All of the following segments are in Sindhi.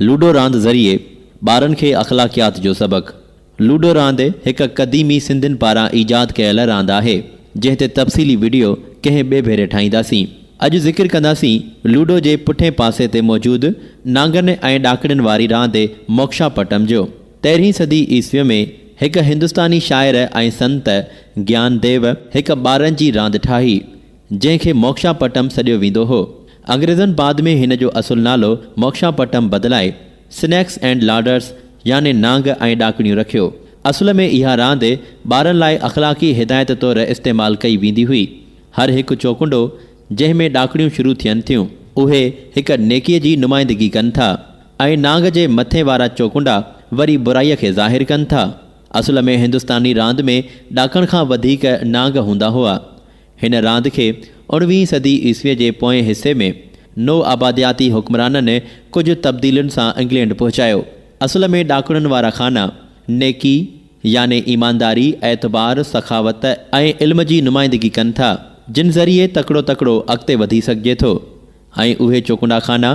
لوڊو راند ذريعي ٻارن کي اخلاقيات جو سبق. لوڊو راند هڪ قديمي سنڌين پاران ايجاد ڪيل راند آهي، جنهن تي تفصيلي وڊيو ڪنهن ٻئي ڀيري ٺاهينداسين. اڄ ذڪر ڪنداسين لوڊو جي پٺئين پاسي تي موجود نانگن ۽ ڏاڪڻين واري راند موڪشا پٽم جو. تيرهين صدي عيسويء ۾ هڪ هندستاني شاعر ۽ سنت گيان ديو هڪ ٻارن جي راند ٺاهي، جنهن کي موڪشا پٽم سڏيو ويندو هو. انگريزن بعد ۾ هن جو اصل نالو موڪشا پٽم بدلائي Snakes and Ladders يعني نانگ ۽ ڏاڪڻيون رکيو. اصل ۾ اها راند ٻارن لاء اخلاقي هدايت طور استعمال ڪئي ويندي هئي. هر هڪ چوڪنڊو جنهن ۾ ڏاڪڻيون شروع ٿين ٿيون. اهي هڪ نيڪيء جي نمائندگي ڪن ٿا ۽ نانگ جي مٿين وارا چوڪنڊا وري برائيء کي ظاهر ڪن ٿا. اصل ۾ هندستاني راند ۾ ڏاڪڻ کان وڌيڪ نانگ هوندا هئا. هن راند کي اڻويهين صدي عيسويء جي پوئين حصي ۾ نوآبادياتي حڪمرانن ڪجهه تبديلين سان انگلينڊ پهچايو. اصل ۾ ڏاڪڻن وارا خانا، نيڪي، يعني ايمانداري، اعتبار، سخاوت ۽ علم جي نمائندگي ڪن ٿا، جن ذريعي تڪڙو تڪڙو اڳتي وڌي سگهجي ٿو. ۽ اهي چوڪنڊا خانا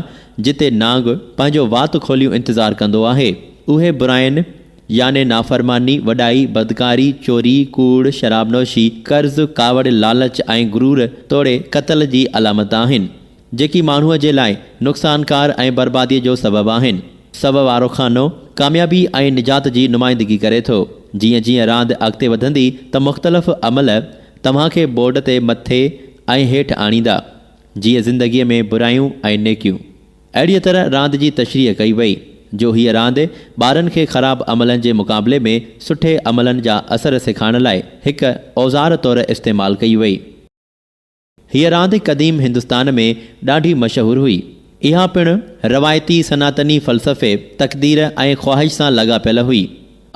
جتي نانگ پنهنجو وات کوليون انتظار ڪندو آهي، اهي براين يعني نافرماني، وڏائي، بدڪاري، چوري، ڪوڙ، شراب نوشي، قرض، ڪاوڙ، لالچ ۽ غرور توڙي قتل جي علامت آهن، جيڪي ماڻهوء جي لاء نقصانڪار ۽ برباديء جو سبب آهن. سو وارو خانو ڪاميابي ۽ نجات جي نمائندگي ڪري ٿو. جيئن جيئن راند اڳتي وڌندي ته مختلف عمل توهان کي بورڊ تي مٿي ۽ هيٺ آڻيندا. جيئن زندگيء ۾ برايون ۽ نيڪيون. اهڙيء طرح راند جي تشريح ڪئي وئي، جو هيء راند ٻارن کي خراب عملن جي مقابلي ۾ سٺي عملن جا اثر سيکائڻ لاء هڪ اوزار طور استعمال ڪئي وئي. هيء راند قديم هندستان ۾ ڏاڍي مشهور هئي. اها پڻ روايتي سناتني فلسفي، تقدير ۽ خواهش سان لاڳاپيل هئي.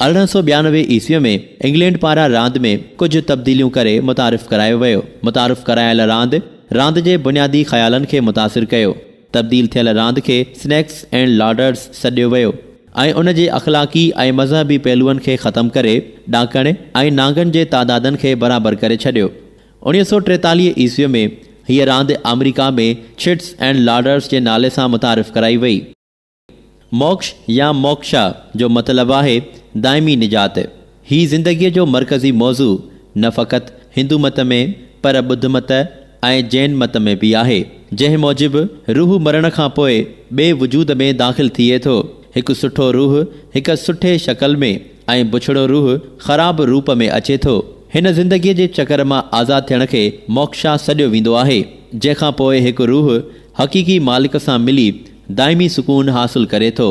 ارڙهن سؤ ٻيانوي عيسويء ۾ انگلينڊ پاران راند ۾ ڪجهه تبديليون ڪري متعارف ڪرايو ويو. متعارف ڪرايل راند، راند جي بنيادي خيالن کي متاثر ڪيو. تبديل ٿيل راند کي سنيڪس اينڊ لاڊرز سڏيو ويو ۽ ان جي اخلاقي ۽ مذهبي پهلوئن کي ختم ڪري، ڏاڪڻ ۽ نانگن جي تعدادن کي برابر ڪري ڇڏيو. اوڻيهه سؤ ٽيتاليهه عيسويء ۾ هيء راند آمريڪا ۾ ڇٽس اينڊ لاڊرز جي نالي سان متعارف ڪرائي وئي. موڪش يا موڪشا جو مطلب آهي دائمي نجات. هي زندگيء جو مرڪزي موضوع نه فقط هندو مت ۾ پر ٻڌ مت ۽ جين مت ۾ به آهي، جنهن موجب روح مرڻ کان پوء ٻئي وجود ۾ داخل ٿئي ٿو. هڪ سٺو روح هڪ سٺي شڪل ۾ ۽ بڇڙو روح خراب روپ ۾ اچي ٿو. هن زندگيء جي چڪر مان آزاد ٿيڻ کي موڪشا سڏيو ويندو آهي، جنهن کان پوء هڪ روح حقيقي مالڪ سان ملي دائمي سڪون حاصل ڪري ٿو.